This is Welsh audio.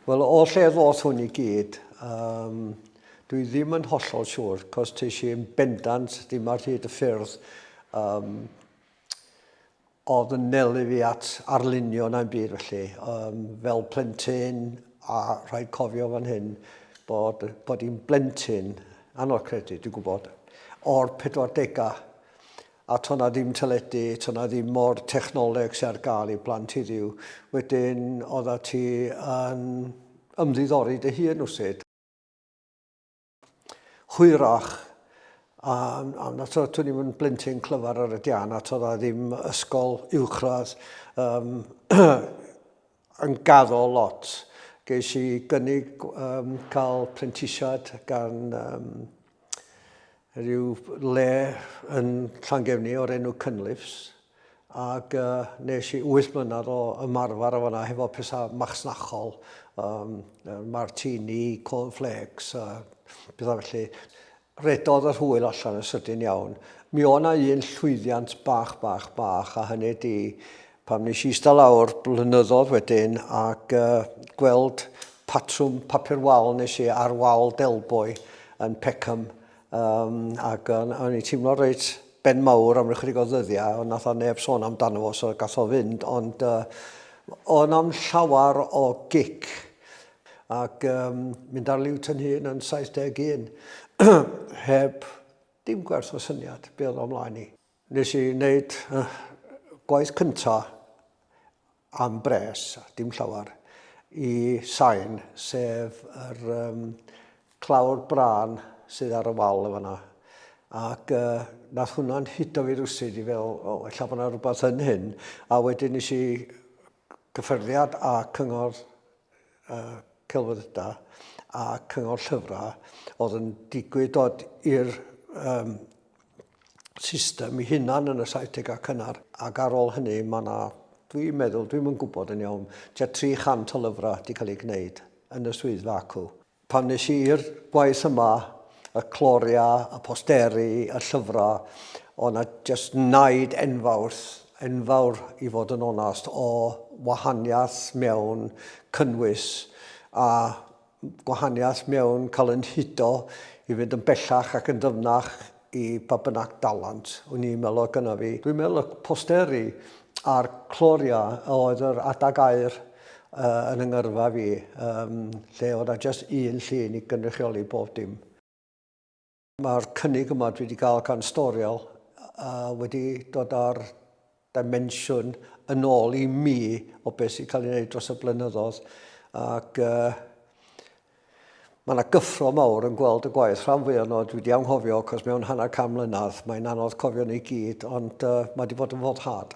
Wel, o lle ddoth hwn i gyd, um, dwi ddim yn hollol siŵr, cos teis i'n bendant ddim ar hyd y ffyrdd um, oedd yn nelu fi at arlunio na'n byd felly. Um, fel plentyn, a rhaid cofio fan hyn, bod, bod i'n blentyn, anodd credu, dwi'n gwybod, o'r 40au, A to' 'na ddim teledu, to' 'na ddim mo'r technoleg sy ar gael i blant heddiw. Wedyn oedda ti yn ymddiddori dy hun rywsut. Hwyrach a a na to' to' ni'm yn blentyn clyfar ar y dian a to' 'na ddim ysgol uwchradd yym yn gaddo lot. Ges i gynnig um, cael prentisiad gan um, rhyw le yn Llangefni o'r enw Cynlifs ac uh, nes i 8 mlynedd o ymarfer o fanna hefo pethau machnachol, um, martini, cornflakes, uh, pethau felly. Rhedodd yr hwyl allan yn sydyn iawn. Mi o' 'na un llwyddiant bach, bach, bach, a hynny 'di pan wnes i ista lawr blynyddodd wedyn ac gweld patrwm papur wal nes i ar wal Delboy yn Peckham um, ac o'n i'n teimlo reit ben mawr am ychydig o ddyddiau, ond nath o neb sôn amdano fo, so gath o fynd, ond uh, o'n am llawer o gic ac um, mynd ar liwt yn hun yn 71 heb dim gwers o syniad be oedd o'mlaen i. Nes i wneud uh, gwaith cynta am bres, dim llawer, i sain, sef yr um, clawr brân sydd ar y wal efo yna. Ac uh, nath hwnna'n hudo fi rwsyd i fel, o, oh, ella bod yna rhywbeth yn hyn. A wedyn nes i Cyffyrddiad â Cyngor y Celfyddydau a Cyngor Llyfrau oedd yn digwydd dod i'r um, system i hunan yn y 70au cynnar ac ar ôl hynny mae yna, dwi'n meddwl, dwi'n yn gwybod yn iawn, tua 300 o lyfrau wedi cael ei gwneud yn y swyddfa acw. Pan nes i i'r gwaith yma, y cloria, y posteri, y llyfrau, o' 'na jyst naid enfawr, enfawr i fod yn onast, o wahaniaeth mewn cynnwys a gwahaniaeth mewn cael yn hudo i fynd yn bellach ac yn ddyfnach i pa bynnag dalent o'n i'n meddwl oedd gyda fi. Dwi'n meddwl y posteri a'r cloriau oedd yr adeg aer uh, yn yng ngyrfa fi, um, lle oedd a just un llun i gynrychioli bob dim. Mae'r cynnig yma dwi wedi cael gan Storiel uh, wedi dod ar dimensiwn yn ôl i mi o beth sy'n cael ei wneud dros y blynyddoedd ac uh, mae yna gyffro mawr yn gweld y gwaith rhan fwy o'n dwi wedi anghofio cos mewn hanner cam mlynedd mae'n anodd cofio neu gyd ond uh, mae wedi bod yn foddhad.